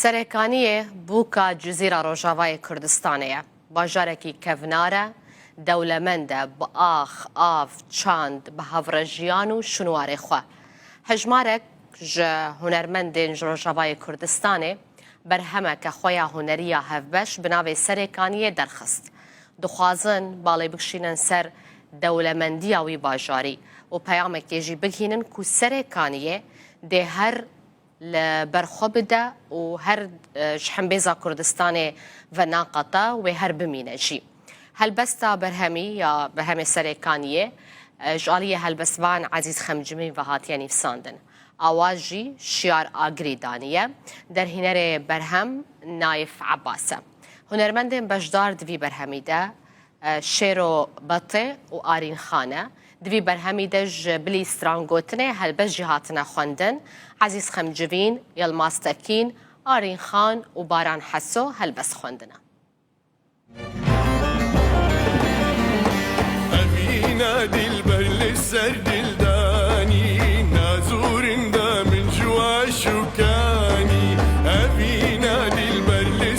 Serekaniyê bûka Cizîra Rojavayê Kurdistanê ye. Bajarekî kevnar e, dewlemend e bi ax, av, çand, bi hevrejiyan û şûnwarê xwe. Hejmarek ji hunermendên ji Rojavayê Kurdistanê berhemeke xwe ya hunerî ya hevbeş bi navê Serekaniyê derxist. Dixwazin balê bikşînin ser dewlemendiya wî bajarî û peyamekê jî bighînin ku Serekaniyê dê her li ber xwe bide û her ji hembêza Kurdistanê ve naqate wê her bimîne jî. Helbesta berhemî ya Berhemê Serê Kaniyê ji aliyê helbestvan Ezîz Xemcimî ve hatiye nîvsandin. Awa jî Şiyar Agirî daniye. Derhînerê berhem Naif Ebas e. Hunermendên beşdar di vî berhemî de Şêro Bate û Arîn Xan e. Di vî berhemî de ji bilî stran gotinê helbest jî hatine xwendin. Ezîz Xemcivîn, Yilmaz Tekîn, Arîn Xan û Baran Heso helbest xwendine. Emîne dîlber li ser dîl danî Nazûrîn de min ji we şûkanî Emîne dîlber li